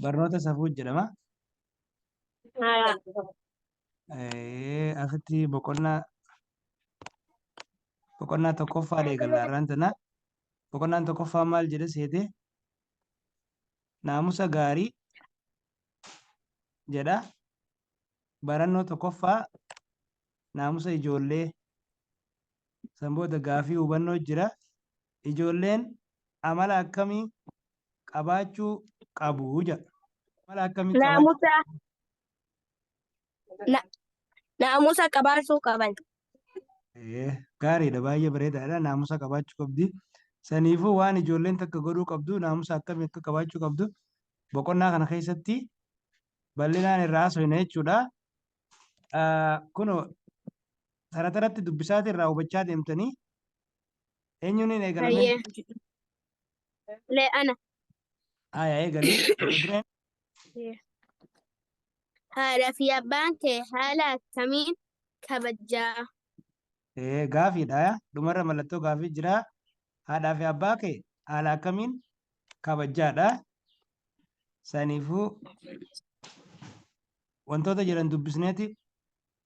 Barnoota safuu jedhama. Haya. Eh, Asitti boqonnaa boqonnaa tokkoffaa eegalla har'aan tana. Boqonnaan tokkoffaa maal jedha seete? Naamusa gaarii jedha. Barannoo tokkoffaa naamusa ijoollee. San booda gaafii hubannoo jira. Ijoolleen amala akkamii qabaachuu qabu? Amala akkamii qabaachuu qabu? Naamusa, naamusa qabaachuu qaban. Gaariidha, baay'ee bareedaadha. Naamusa qabaachuu qabdi. Saniifuu waan ijoolleen takka godhuu qabdu, naamusa akkamii akka qabaachuu qabdu boqonnaa kana keessatti bal'inaan irraa haasofna jechuudha. Kunoo sarataratti dubbisaati irraa hubachaa deemtanii Eenyuun hin eegalamee? Hayyee. Le ana. Aya eegalii. Dureen Haadhaa fi abbaan kee haala akkamiin kabajaa? ee, gaafiidha. aya. Dhumarra mallattoo gaafii jira. Haadhaa fi abbaa kee haala akkamiin kabajaadha. Saniifuu wantoota jedhan dubbisneeti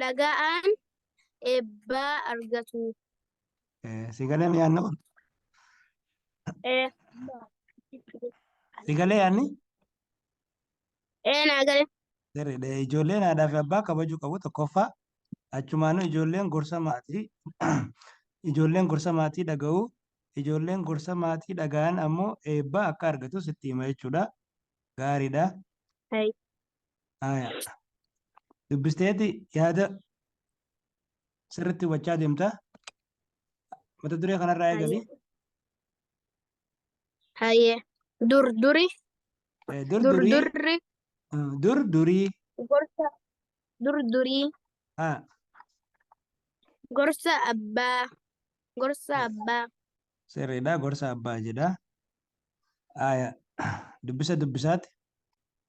dhaga'an eebba argatu. Eh, Si galee mi yaanni kun? Ee, Si galee yaanni? ee naa gale. Sirriidha. Ijoolleen haadhaa fi abbaa kabajuu qabu tokkoffaa. Achumaanuu ijoolleen gorsa maatii ijoolleen gorsa maatii dhaga'u. Ijoolleen gorsa maatii dhaga'an ammoo eebba akka argatus itti hima jechuudha. Gaariidha. Hai. Haya. Dubbisteeti yaada sirriitti hubachaa deemta. Mata duree kanarraa eegali. Hayyee. Dur duri. Eh, Dur Dur durii. durri. eh, Dur durii. Gorsa. Dur durii. Ha. Gorsa abbaa. Gorsa abbaa. Sirriidha gorsa abbaa jedha. Aaya, dubbisa dubbisaati.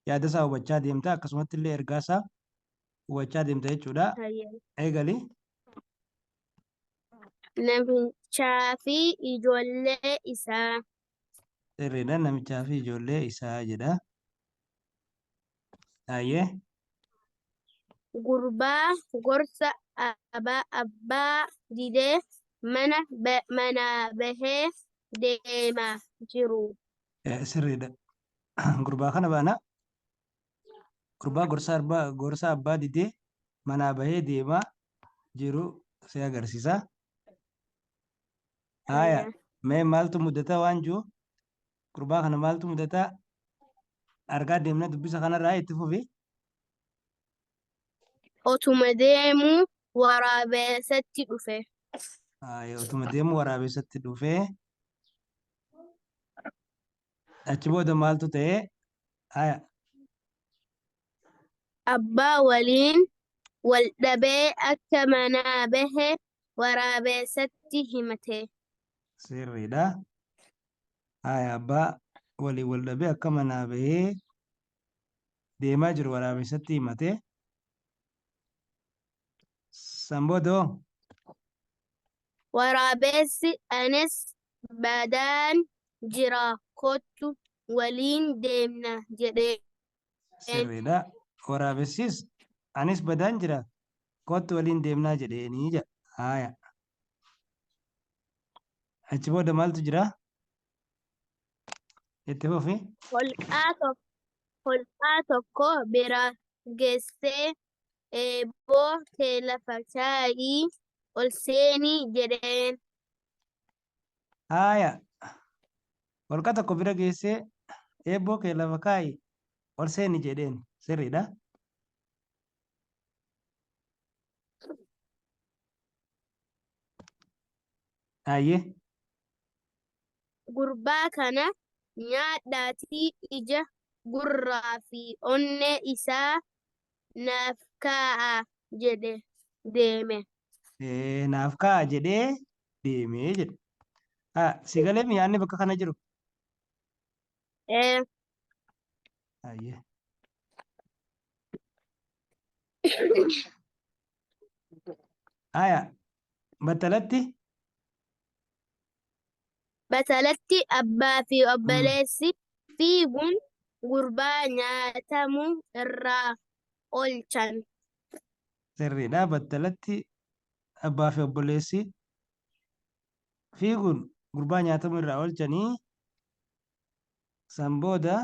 Yaada isaa hubachaa deemta akkasumatti illee ergaa isaa hubachaa deemta jechuudha. Hayyee. Eegali. Namichaa fi ijoollee isaa. Sirriidha namichaa fi ijoollee isaa jedha. Hayyee. Gurbaa gorsa abaa abbaa didee mana ba- manaa bahee deema jiru. Eh, Sirriidha. Gurbaa kana baana. Gurbaa gorsa abbaa gorsa abbaa didee manaa bahee deemaa jiru si agarsiisa. Haaya. Mee maaltu mudata waan jiru gurbaa kana maaltu mudataa argaa deemna dubbisa kanarraa itti fufi. Otuma deemuu waraabessatti dhufe. Ayi, Otuma deemuu waraabessatti dhufe. Achi booda maaltu ta'e? Haya. Abbaa waliin wal dhabee akka manaa bahe waraabessatti himate. sirriidha. Haaya abbaa waliin wal dhabee akka manaa bahee deemaa jiru waraabessatti himate. San booda hoo? Waraabessi anis badaan jira kottu waliin deemna jedheen. Sirriidha. Waraabessis anis badaan jira kottu waliin deemnaa jedheenii jedha. Haaya. Achi booda maaltu jira? Itti fufi. Holqaa tokko, holqaa tokko bira geessee eeboo kee lafa kaa'i ol seeni jedheen. Haaya. Holqa tokko bira geessee eeboo kee lafa kaa'i ol seeni jedheen. Sirriidha. Hayyee. Gurbaa kana nyaadhaatii ija, gurraa fi onnee isaa naaf kaa'a jedhe deeme. Ee, naaf kaa'a jedhee deemee jedhe. Haa, si galee miyaanni bakka kana jiru? Ee, Ayyee. Haya, battalatti Battalatti abbaa fi obboleessi fiiguun gurbaa nyaatamu irraa oolchan. sirriidha. Battalatti abbaa fi obboleessi fiiguun gurbaa nyaatamu irraa oolchanii san booda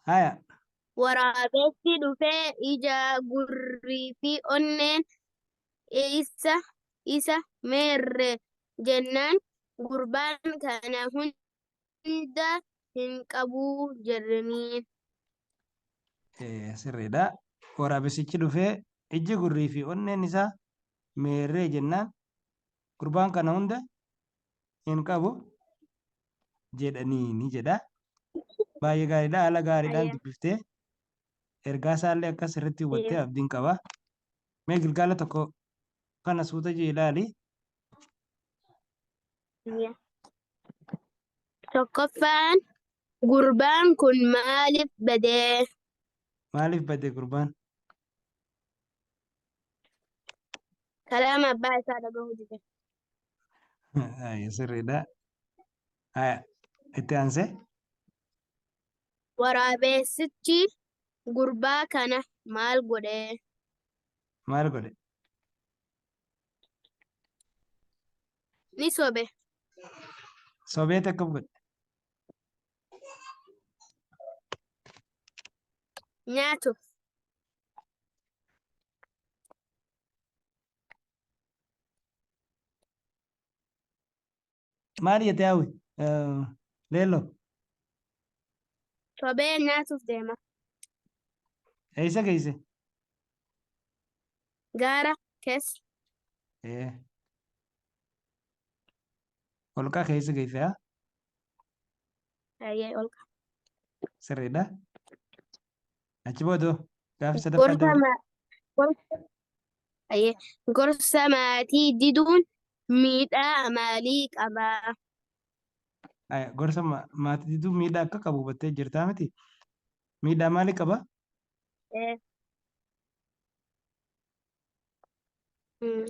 haya Waraabessi dhufee ija gurrii fi onneen isa isa meerre jennaan gurbaan kana hunda hin qabu jedhaniin. Eh, sirriidha. Waraabessichi dhufee ijji gurrii fi onneen isaa meerree jennaan gurbaan kana hunda hin qabu jedhaniini jedha. Baay'ee gaariidha. Haala gaariidhaan Ayya. dubbiftee ergaa isaallee akka sirriitti hubattee Ayya. abdiin qaba. Mee gilgaala tokko kana suuta jee ilaali. Tokkoffaan gurbaan kun maaliif badee? Maaliif bade gurbaan? Kalaama abbaa isaa dhagahuu dide. Ayya, Sirriidha. Ayya, Itti aansee? Waraabeessichi gurbaa kana maal godhee? Maal godhe? Ni sobe. Sobee takka godhe. Nyaatu. Maal jette hawwi? Leelloo. Sobee nyaatuuf deema. Eessa geesse? Gaara keessa. Ee. Holqa keessa geesse haa? Ayyee olka. Sirriidha. Achi booda gaaffii sadaffaa gorsa dabalii. ma- gorsa ayyee, gorsa maatii diduun miidhaa maalii qaba? Aya, Gorsa ma- maatii diduu miidhaa akka qabu hubattee jirtaa miti? Miidhaa maalii qaba? Eh, mm,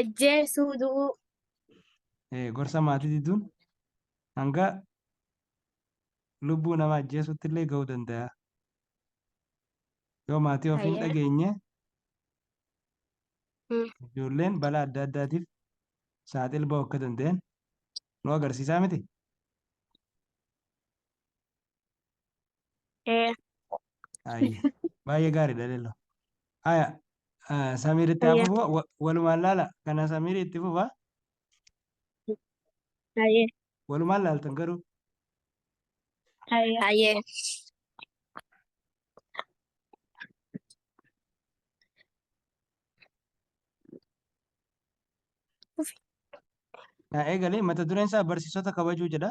Ejjeesuu du'uu. Eh, gorsa maatii diduun hanga lubbuu nama ajjeesutti illee ga'uu danda'a. Yoo maatii ofii hin Hayyee. dhageenye Mm. ijoolleen balaa adda addaatiif saaxil ba'uu akka danda'an nu agarsiisaa miti. Ee. Ayya. Baay'ee gaariidha lello. Aya Samiir itti haa Ayya. fufu wa- walumaan laala kana Samiir itti fufa Ayya. walumaan laaltan garuu Ayya. Ayya. na eegalee mata dureen isaa barsiisota kabajuu jedha.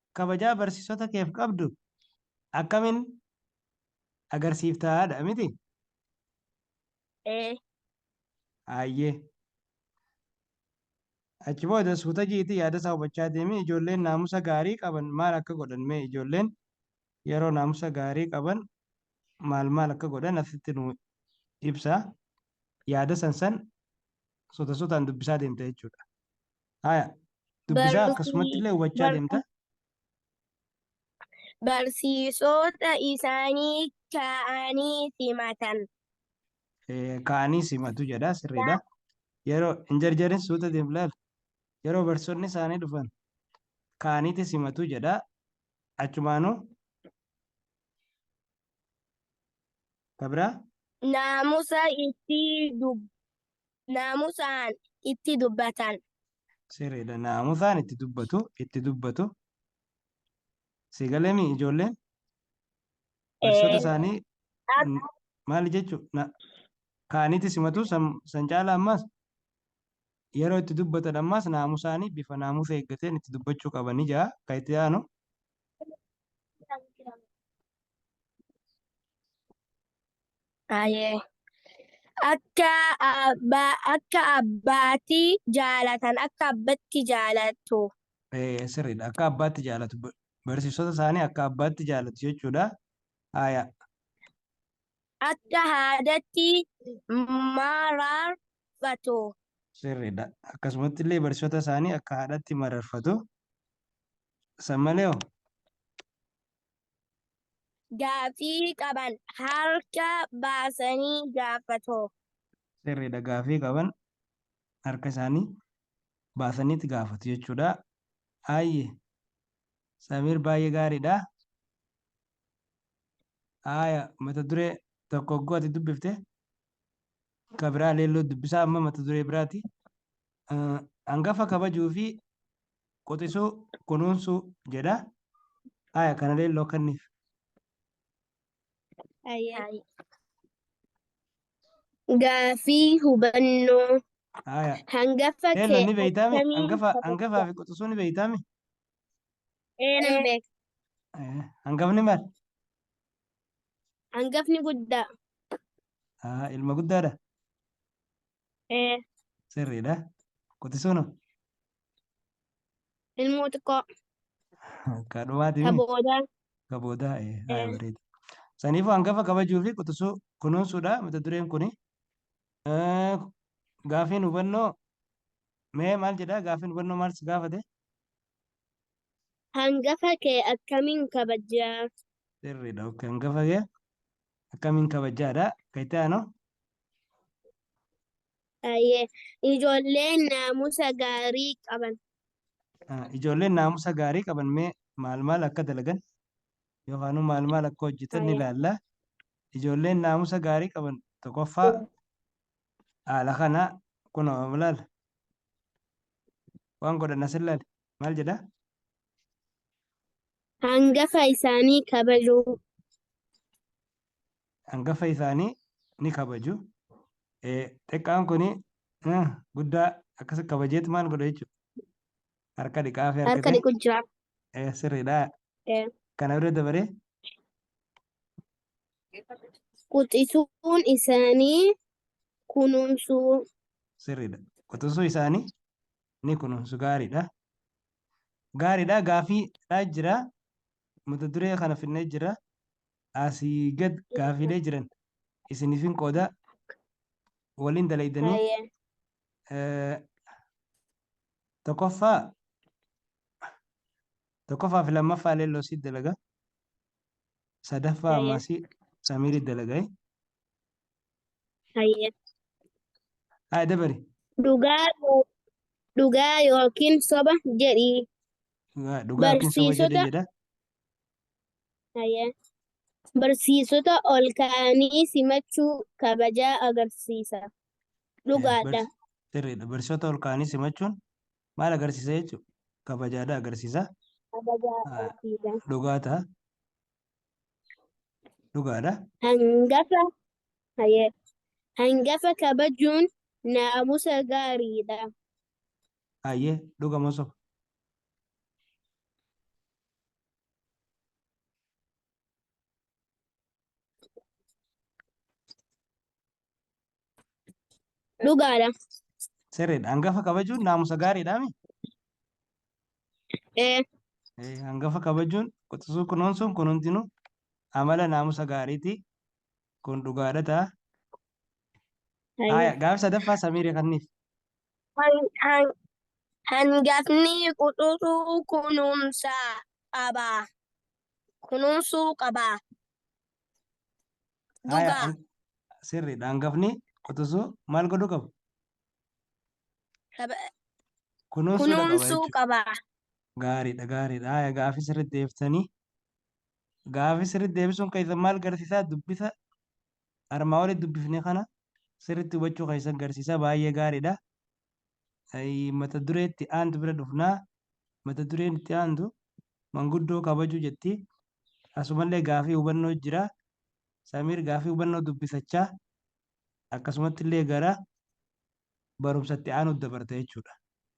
kabajaa barsiisota keef qabdu akkamin agarsiifta dha miti? Ee. Hayyee. Achi booda suuta ji'iitii yaada isaa hubachaa deemi. Ijoolleen naamusa gaarii qaban maal akka godhan mee ijoolleen yeroo naamusa gaarii qaban maal maal akka godhan asitti nuu ibsa. Yaada san san suuta suutaan dubbisaa deemta jechuudha. Haya. Dubbisaa akkasumatti illee hubachaa deemta. Barsiisota isaanii kaa'anii simatan. Kaa'anii simatu jedha sirriidha. Yeroo hin jarjarin suuta deemu laal. Yeroo barsiisonni isaanii dhufan kaa'aniiti simatu jedha. Achumaanuu kabira. Naamusa itti naamusaan itti dubbatan. Sirriidha. Naamusaan itti dubbatu, itti dubbatu. Si galeemi ijoolleen? Barsiisota Ee, isaanii Ab- n- maali jechuu? Na- Kaaniiti simatu san san caala ammas yeroo itti dubbatan ammas naamusaanii bifa naamusa eeggateen itti dubbachuu qaban ijaa kan itti aanu Ayee. Akka abbaa akka abbaati jaalatan akka abbatti jaalatu. Eh, sirriidha. Akka abbaatti jaalatu. Ba- Barsiisota isaanii akka abbaatti jaalatu jechuudha. Haya. Akka haadatti mararfatu. Sirriidha. Akkasumatti illee barsiisota isaanii akka haadhatti mararfatu. San malee hoo? gaafii qaban harka baasanii gaafatu. Sirriidha gaafii qaban harka isaanii baasaniiti gaafatu jechuudha. Aayye Samiir baay'ee gaariidha. Aaya mata duree tokko hogguu ati dubbifte ka biraa leelloo dubbisaa amma mata duree biraati. Hangafa kabajuu fi quxisuu kunuunsuu jedha haya kana leelloo kanniif Hayyee. Gaafii hubannoo haya hangafa kee leelloon ni beeytaami akkamiin hangafa kabajja? hangafaa fi quxisuu ni beeytaami Ee, nan beeka. Eh, hangafni maal Hangafni guddaa. Ah, ilma guddaadha Ee, sirriidha quxisuun hoo? Ilmoo xiqqoo. Ka dhumaati Ka miti. boodaa. Ka boodaa. ee, Haaya Ee. bareeda. Saniifuu hangafa kabajuu fi quxisuu kunuunsuudha mata dureen kuni. Eh, Gaafiin hubannoo mee maal jedhaa? Gaafiin hubannoo maal si gaafate? Hangafa kee akkamiin kabajjaa? Sirriidha. ok. Hangafa kee akkamiin kabajjaadha? Kan itti aanu Ayyee. Ijoolleen naamusa gaarii qaban. Ah, Ijoolleen naamusa gaarii qaban mee maal maal akka dalagan yookaan maal maal akka hojjetan ni Ayyee. ilaalla. Ijoolleen naamusa gaarii qaban tokkoffaa haala kana kunoo ilaala. Waan godhan as ilaali. Maal jedha? Hangafa isaanii kabajuu. hangafa isaanii ni kabaju. Eh, Xiqqaan kun eh, guddaa akkas kabajeet maal godha jechuudha. Harka dhiqaa fi harka harka kee dhiqu jira. eh, sirriidha. Eh, Kana bira dabaree Quxisuun isaanii kunuunsuu. sirriidha. Quxisuu isaanii ni kunuunsu gaariidha. Gaariidha gaafiidha jira. Mata duree kana finnee jira. asii gad gaafiilee jiran isinifin qoodaa waliin dalaydanii Hayyee. eh, tokkoffaa tokkoffaa fi lammaffaa illee loosii dalaga sadaffaa Hayyee. ammasii samiirii dalaga eh. Hayyee. haa dabari Dhugaa yoo- dhugaa yookiin soba jedhii. Dhugaa- dhugaa yookiin soba jedhee Barsiisota- jedha Hayyee. Barsiisota ol ka'anii simachuu kabajaa agarsiisa. Eh, Dhugaadha. bars- Sirriidha. Barsiisota ol ka'anii simachuun maal agarsiisa jechuudha? Kabajaadha agarsiisa. Kabajaa Ah, agarsiisa. Dhugaa ta'a. Dhugaadha. Hangafa. Hayyee. Hangafa kabajuun naamusa gaariidha. Hayyee. Dhuga moo soba? Dhugaadha. Sirriidha. Hangafa kabajuun naamusa gaariidha mi? Ee, Eh, Hangafa kabajuun quxisuu kunuunsuun kun hundinuu amala naamusa gaariiti. Kun dhugaadha ta'a. Hayyee. Haaya, gaaffi sadaffaa Samiiree kanniif. Han- han- Hangafni quxusuu kunuunsa qaba. Kunuunsuu qaba. Haaya, Dhugaa. han- sirriidha. Hangafni quxusuu maal godhuu qaba? Qaba- Kunuunsuudha qaba Kunuunsuu jechuudha. qaba. Gaariidha, gaariidha. Haaya, gaaffi sirriitti deeftanii. Gaafii sirriitti deebisuun keessan maal garsiisaa? Dubbisa armaa olii dubbifne kana sirriitti hubachuu keessan garsiisaa baay'ee gaariidha. Ayii, Mata duree itti aantu bira dhufnaa. Mata dureen itti aantu manguddoo kabajuu jetti. Asumallee gaafii hubannoo jira. Samiir gaafii hubannoo dubbisachaa akkasumatti illee gara barumsa itti aanutti dabarta jechuudha.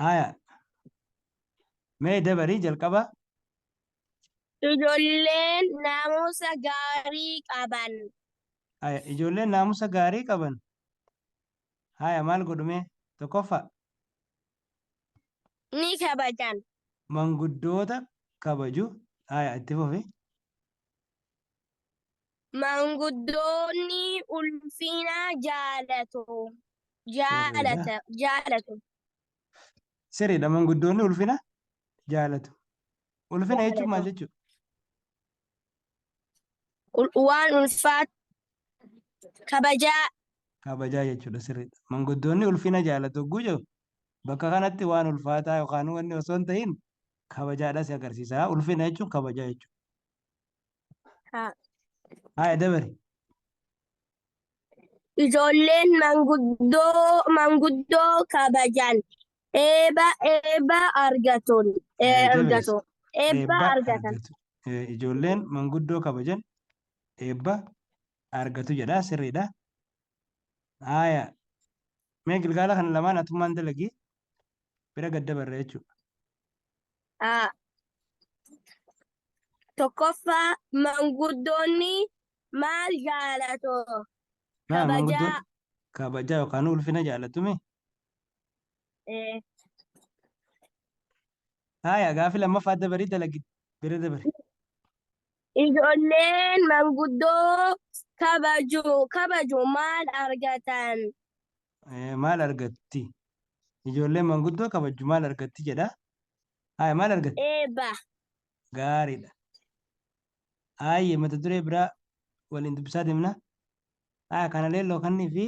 Haya. Mee dabarii jalqaba. Ijoolleen naamusa gaarii qaban. Haya. Ijoolleen naamusa gaarii qaban. Haya maal godhumee? Tokkoffaa. Ni kabajan. Manguddoota kabaju. Haya itti fufi. Manguddoonni ulfina jaalatu. Jaalata, jaalatu. Sirriidha manguddoonni ulfina jaalatu. Ulfina jechuun maal Jaalatu. jechuudha? Ul- Waan ulfaatu kabajaa Kabajaa jechuudha sirriidha. Manguddoonni ulfina jaalatu hogguu jiru bakka kanatti waan ulfaataa yookaan wanni osoo hin ta'in kabajaadha si agarsiisa. Ulfina jechuun kabajaa jechuudha. Haa. Haya dabari. Ijoolleen manguddoo manguddoo kabajan eeba eeba argatuun Haya dabari. argatu. Eebba Eebba argatan. argatu. Eh, Ijoolleen manguddoo kabajan eebba argatu jedha sirriidha. Haya. Mee gilgaala kana lamaan atummaan dalagi. bira gad dabarra jechuudha. Ah, Tokkoffaa manguddoonni maal jaalatu? Maal Kabajaa. manguddoon kabajaa yookaan ulfina jaalatumi? Eh, Haaya gaaffii lammaffaa dabarii dalagi bira dabari. Ijoolleen manguddoo kabaju kabaju maal argatan? Eh, maal argatti ijoolleen manguddoo kabajju maal argatti jedha haya maal argatti Eebba. gaariidha haayye mata duree biraa waliin dubbisaa deemna haya kana leelloo kannii fi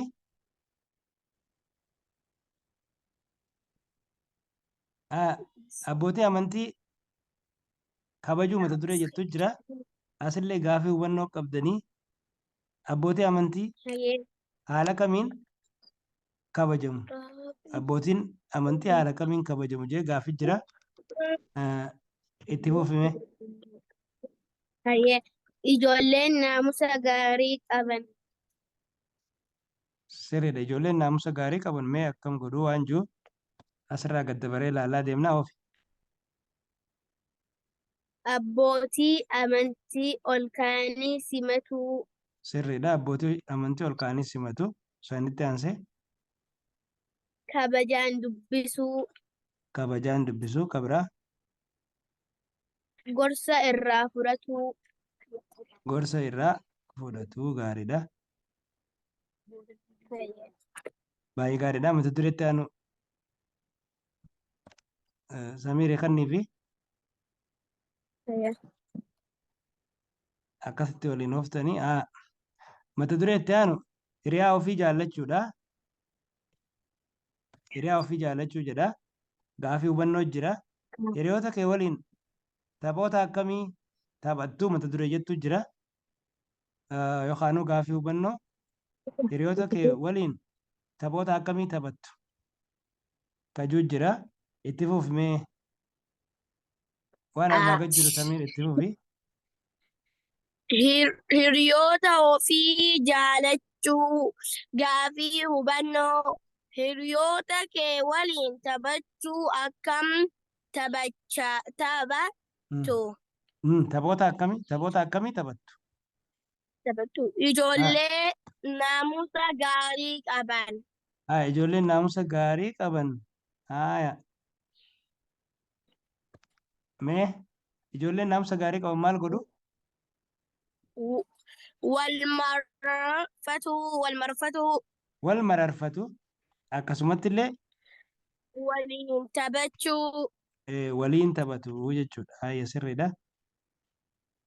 haya abbootii amantii kabajuu mata duree jettu jira asillee gaafii hubannoo qabdanii Abbootii amantii Hayyee. haala kamiin kabajamu? Abbootiin amantii haala kamiin kabajamu jee gaafii jira. Eh, Itti fufime. Hayyee. Ijoolleen naamusa gaarii qaban. Sirriidha. Ijoolleen naamusa gaarii qaban mee akkam godhuu waan jiru asirraa gad dabaree ilaalaa deemnaa ofi. Abbootii amantii ol ka'anii simatuu. Sirriidha. Abbootii amantii ol ka'anii simatu. Sanitti aansee. Kabajaan dubbisuu. Kabajaan dubbisuu. Ka biraa. Gorsa irraa fudhatuu. Gorsa irraa fudhatuu. Gaariidha. Baay'ee gaariidha. Mata dureetti aanu. Samiire kannii fi Ayya. akkasitti waliin hooftanii haa mata duree itti aanu hiriyaa ofii jaallachuudha. Hiriyaa ofii jaallachuu jedha. Gaafii hubannoo jira. Hiriyoota kee waliin taphoota akkamii taphattuu mata duree jettu jira. Ah, Yookaanuu gaafii hubannoo hiriyoota kee waliin taphoota akkamii taphattu tajuu jira itti fufi mee waan armaa gad jiru samiir itti fufi Hiriyoota ofii jaalachuu gaafii hubannoo hiriyoota kee waliin taphachuu akkam taphacha taphattu? Taphoota akkamii taphoota akkamii taphattu? Taphattuu. Ijoollee naamusa gaarii qaban. Haa ijoolleen naamusa gaarii qaban. Haaya. Mee ijoolleen naamusa gaarii qaban maal godhu? W- Wal marfatu, wal marfatu, Wal mararfatu. Akkasumatti illee waliin taphachuu. eh, waliin taphatu jechuudha. Haaya sirriidha.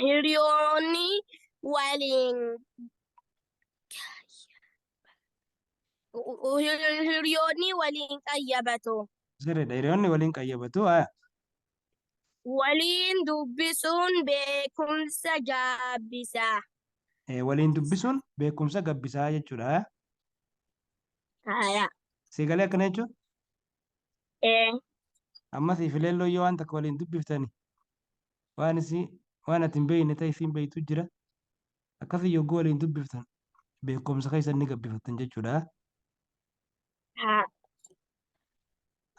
hiriyoonni waliin hiriyoonni waliin qayyabatu. Sirriidha. Hiriyoonni waliin qayyabatu. Haa. Waliin dubbisuun beekumsa gaabbisa. Eh, Waliin dubbisuun beekumsa gabbisaa jechuudha. Haa. Haa. Siigalee akkana jechuun Ee. Amma siif ileelloo yoo waan takka waliin dubbiftani waan isii waan ati hin beekne ta'e isiin beektu jira. Akkasii yogguu waliin dubbiftan beekumsa keessan ni gabbifattan jechuudha. Haa.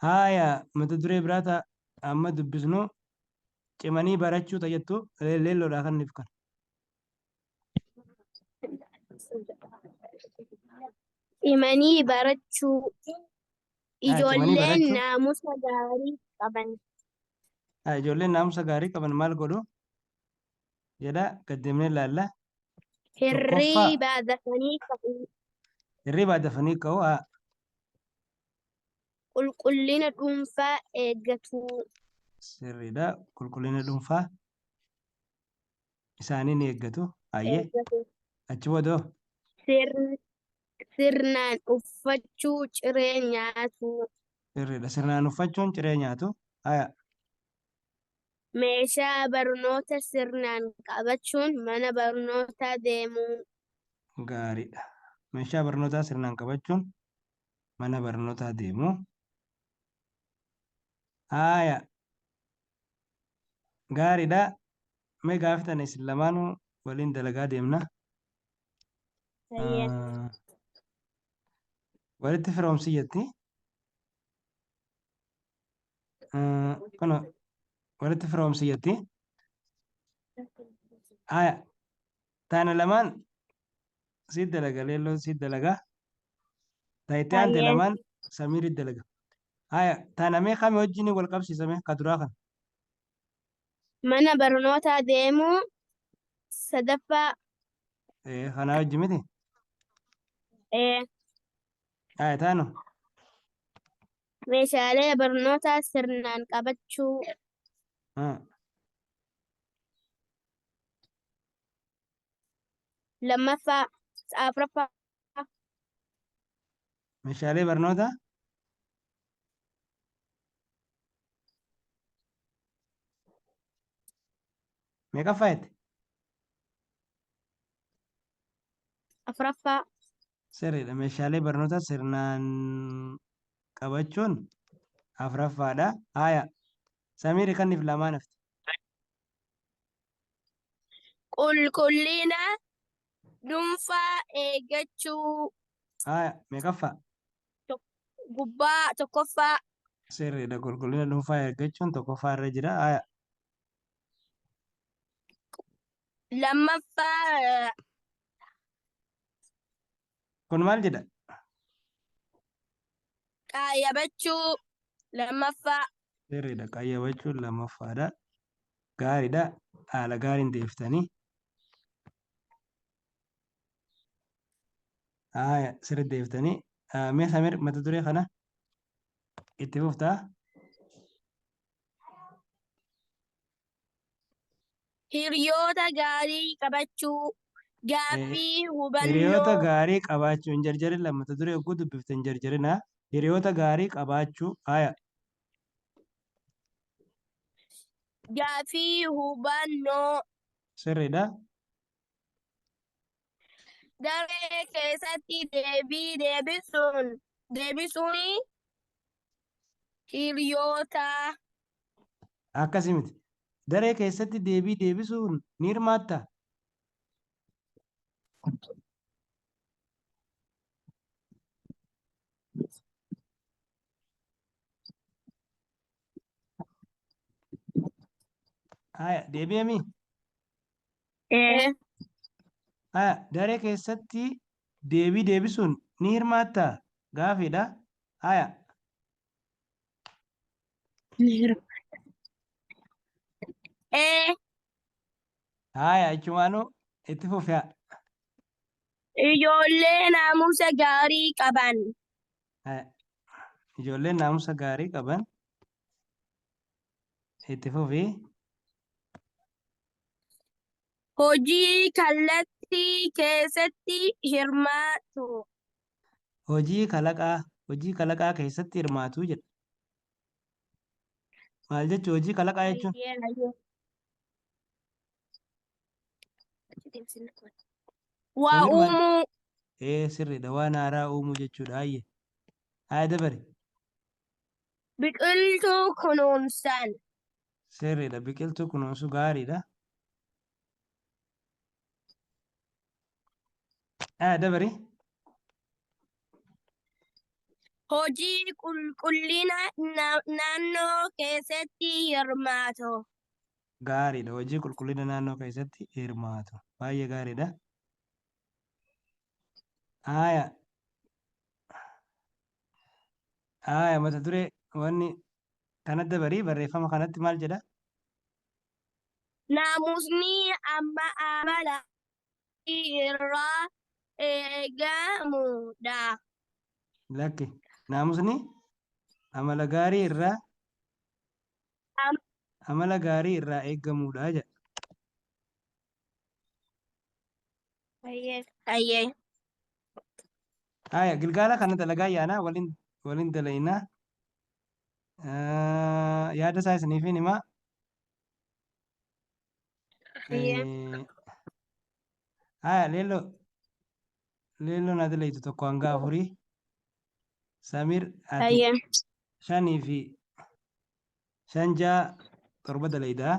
Haaya mata duree biraa ta'a amma dubbisnu cimanii barachuu ta'a jettu leelloodhaa kan nuuf kan. Cimanii barachuu. Ijoolleen barachuu. naamusa gaarii qaban. Ah, Ijoolleen naamusa gaarii qaban maal godhu? Jedha gad deemnee ilaalla. Hirriba dafanii ka'uu. Hirribaa dafanii ka'u. Ah, Qulqullina dhuunfaa eeggatuu. Sirriidha. Qulqullina dhuunfaa. isaanii ni eeggatu. Ayyee eeggatu. achi boodoo Sirn- Sirnaan uffachuu ciree nyaatuu. sirriidha. Sirnaan uffachuun ciree nyaatu. Haya Meeshaa barnoota sirnaan qabachuun mana barnootaa deemuu. gaariidha. Meeshaa barnootaa sirnaan qabachuun mana barnootaa deemu. Haya Gaariidha. Mee gaafii tana isin lamaanuu waliin dalagaa deemna. Hayyee. Ah, Walitti firoomsi jetti. Ah, Kuno walitti firoomsi jetti. Haya. Tana lamaan si dalaga leelloon si dalaga. Ta itti aante Hayyee. lamaan samiirri dalaga. Haya tana mee kami wajjin wal qabsiisa mee ka duraa kana. Mana barnootaa deemuu sadaffaa Ee, Kanaa wajji miti. ee, Haya taanu. meeshaalee barnootaa sirnaan qabachuu Ah, Lammaffaa, afraffaa. Meeshaalee barnootaa meeqaffaa jette? Afraffaa. Sirriidha. Meeshaalee barnootaa sirnaan qabachuun afraffaadha. Haaya. Samiir kanniif lamaan hafte. Qulqullina dhuunfaa eeggachuu. Haaya, meeqaffaa? Gubbaa tokkoffaa. Sirriidha. Qulqullina dhuunfaa eeggachuun tokkoffaa irra jira. Haaya. Lammaffaa Kun maal jedha? Qayyabachuu lammaffaa. Sirriidha. Qayyabachuun lammaffaadha. Gaariidha. Haala gaariin deeftanii. Haaya sirri deeftanii. Mee Samir mata duree kana itti fuftaa? Hiriyoota gaarii qabachuu. Gaaffii hubannoo. Hiriyoota gaarii qabaachuu hin jarjarin lammata duree hogguu dubbifte hin jarjarina. Hiriyoota gaarii qabaachuu. Haya. Gaaffii hubannoo. Sirriidha. Daree keessatti deebii deebisuun deebisuun hiriyoota Akkasi miti. Daree keessatti deebii deebisuun ni hirmaatta? Haya, deebi'emi. Ee. Haya, daree keessatti deebii deebisuun ni hirmaatta? Gaafiidha. Haya, Ee, Haaya achumaanuu itti fufaa. ijoollee naamusa gaarii qaban. Haaya. Ijoolleen naamusa gaarii qaban itti fufi. Hojii kallattii keessatti hirmaatu. hojii kalaqaa hojii kalaqaa keessatti hirmaatu jedha. Maal jechuun hojii kalaqaa jechuun? Hayyee hayyee. Waa Namni maal- uumuu Ee sirriidha waan haaraa uumuu jechuudha hayyee. Haa dabari biqiltuu kunuunsaan sirriidha biqiltuu kunuunsu gaariidha. Ah, dabari. Hojii qulqullina na- naannoo keessatti hirmaatu. Gaariidha. Hojii qulqullina naannoo keessatti hirmaatu. Baay'ee gaariidha. Haaya. Haaya mata duree wanni kana dabarii barreeffama kanatti maal jedha? Naamusni amma amala gaarii irraa eegamu dha. Lakki. Naamusni amala gaarii irraa amala gaarii irraa eegamu dha jedha. Hayyee. Haya, gilgaala kana dalagaa yaanaa waliin waliin dalaynaa. Ah, yaada isaa isiniifin himaa. Hayyee. Eh, Haya, leello leello na dilaytu tokko hanga afurii. Samir ati Hayyee. shanii fi shan ja'a torba dalaydaa.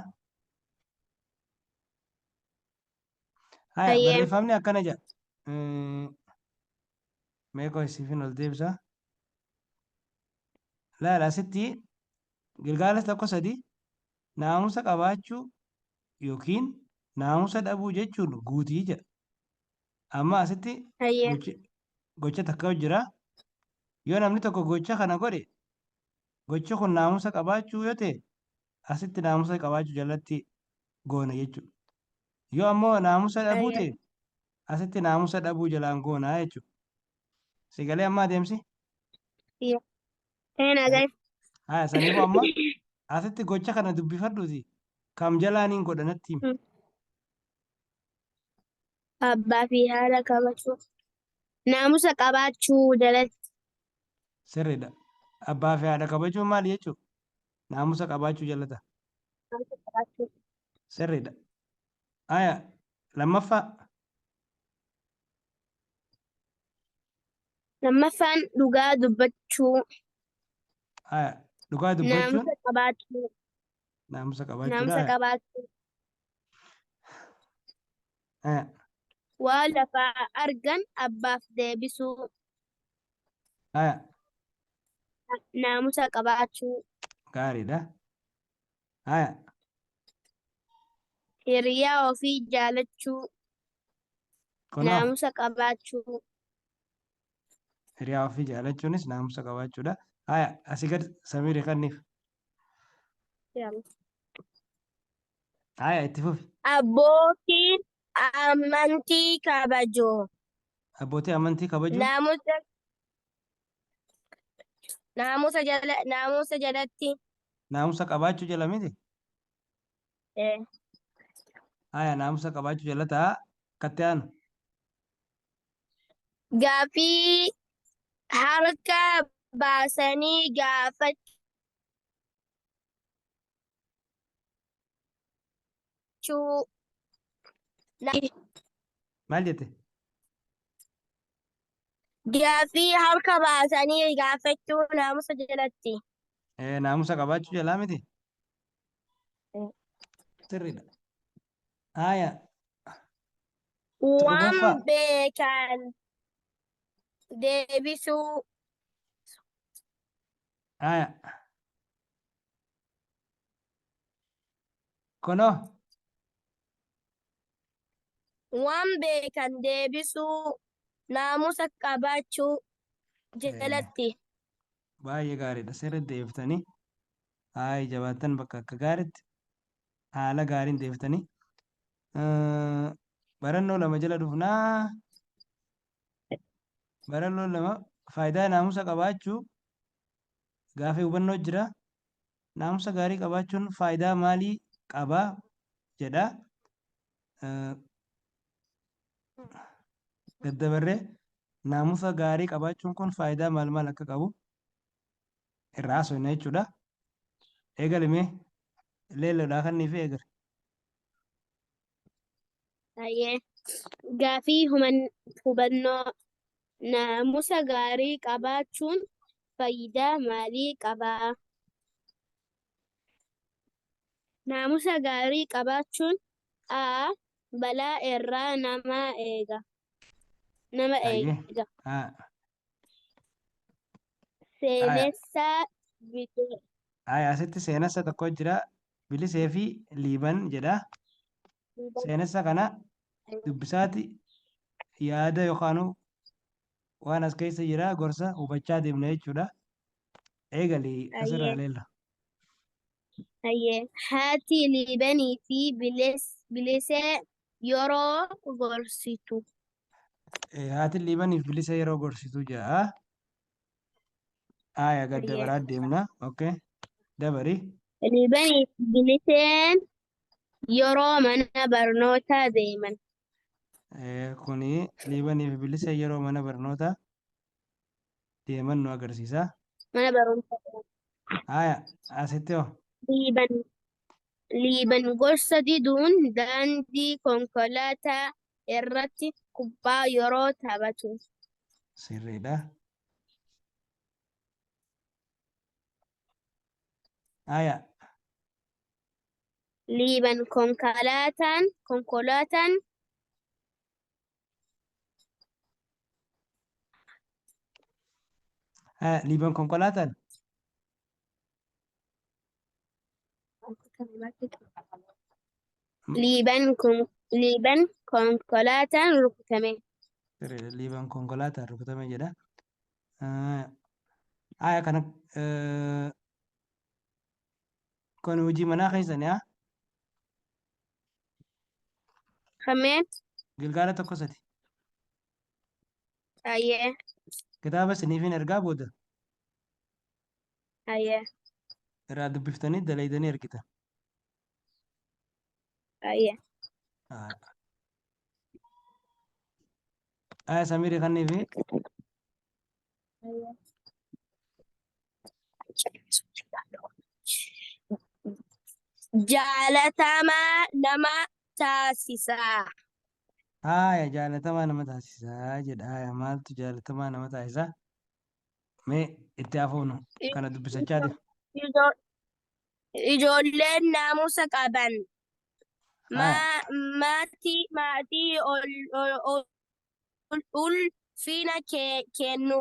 Haya, Hayyee. barreeffamni akkana jedha. Eh, Mee qoy siifin ol deebisa. Laala asitti gilgaala tokko sadi naamusa qabaachuu yookiin naamusa dhabuu jechuun guutii jedha. Amma asitti Hayyee. gochi- gocha takka jira. Yoo namni tokko gocha kana godhe gochi kun naamusa qabaachuu yoo ta'e asitti naamusa qabaachuu jalatti goona jechuudha. Yoo ammoo naamusa dhabuu Ayyee. ta'e asitti naamusa dhabuu jalaan goona jechuudha. Si galee amma adeemsi? Ee naa gahe. Haa saniifuu amma asitti gocha kana dubbifadhuuti kam jalaan hin godha natti himi. Abbaa fi haadha kabajuu. Naamusa qabaachuu jalatti. Sirriidha. Abbaa fi haadha kabajuun maali jechuudha? Naamusa qabaachuu jallata. Naamusa qabaachuu. Sirriidha. Aya lammaffaa. Lammaffaan dhugaa dubbachuu. Aya dhugaa dubbachuun. Naamusa qabaachuu. Naamusa qabaachuudha. Naamusa qabaachuu. Aya. Waa lafaa argan abbaaf deebisuu. Haya, Naamusa qabaachuu. gaariidha. Haya, Hiriyaa ofii jaalachuu. kunoo Naamusa qabaachuu. hiriyaa ofii jaalachuunis naamusa qabaachuudha. Haya, asii gad samirii kanniif. Yaala. Haaya itti fufi. Abbootiin amantii kabajoo. Abbootii amantii kabajuu. Naamusa naamusa jala naamusa jalatti Naamusa qabaachuu jala miti. eh, Haaya naamusa qabaachuu jala ta'a. Akkatti aanu. Gaaffii harka baasanii gaafachuu. Maal jette? Gaaffii harka baasanii gaafachuu naamusa jalatti. Eh, Naamusa qabaachuu jalaa miti? Sirriidha. Haaya. Waan Torbaffaa. beekan deebisuu. Haaya. Kunoo. Waan beekan deebisuu. Naamusa qabaachuu jalatti. Baay'ee gaariidha. Sirriitti deebiftanii. Haaya jabaattan bakka akka gaariitti. haala gaariin deeftanii. Barannoo lama jala dhufnaa. Barannoo lama faayidaa naamusa qabaachuu gaafii hubannoo jira. Naamusa gaarii qabaachuun faayidaa maalii qaba jedha. Daddabarree naamusa gaarii qabaachuun kun faayidaa maal maal akka qabu irraa haasofna jechuudha. Eegali mee leelloodhaa kannii fi eegali. Hayyee. Gaafii human- hubannoo naamusa gaarii qabaachuun faayidaa maalii qaba? Naamusa gaarii qabaachuun A. Balaa irraa nama eega. Nama Hayyee. eega. Haa. Seenessa video. Ay, asitti seenessa tokko jira. Bilisee fi Liiban jedha. Seenessa kana dubbisaati yaada yookaan waan as keessa jira gorsa hubachaa deemna jechuudha. Eegali asirraa Ayyee. leella. Hayyee. Haati Liibanii fi Bilis- Bilisee yeroo gorsitu. Haatiin liibaniif bilisa yeroo gorsitu ja'a. Aaya gad dabaraa deemna. Okay. Dabari. Liibaniif biliseen yeroo mana barnootaa deeman. Kuni liibaniif bilisa yeroo mana barnootaa deeman nu agarsiisa. Mana barumsa Haaya asitti hoo Liiban Liiban gorsa diduun daandii konkolaataa irratti kubbaa yeroo taphatu. sirriidha. Haaya Liiban konkolaataan konkolaataan Haa, Liiban konkolaataan Liiban kun Liiban konkolaataan rukutame. Sirriidha. Liiban konkolaataan rukutame jedha. Ah, Aya kana eh, kun hojii manaa keessani haa. Hammeen Gilgaala tokko sadi. hayyee Kitaaba isiniifin ergaa booda hayyee irraa dubbiftanii dalaydanii ergitan. hayyee Haa. Aya Samirii kannii fi Jaalatamaa nama taasisa. Haaya jaalatamaa nama taasisaa jedha. Haaya maaltu jaalatamaa nama taasisaa? Mee itti hafuunu kana dubbisachaa deema. Ijo- Ijoolleen naamusa qaban. Haaya. Ma- Maatii maatii ol- ol- ol- ulfina kennu.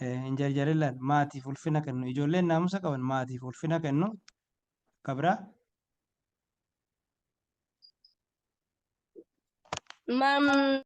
Hin jarjarillaan maatiif ulfina kennu. Ijoolleen naamusa qaban maatiif ulfina kennu. Akka biraa. Mam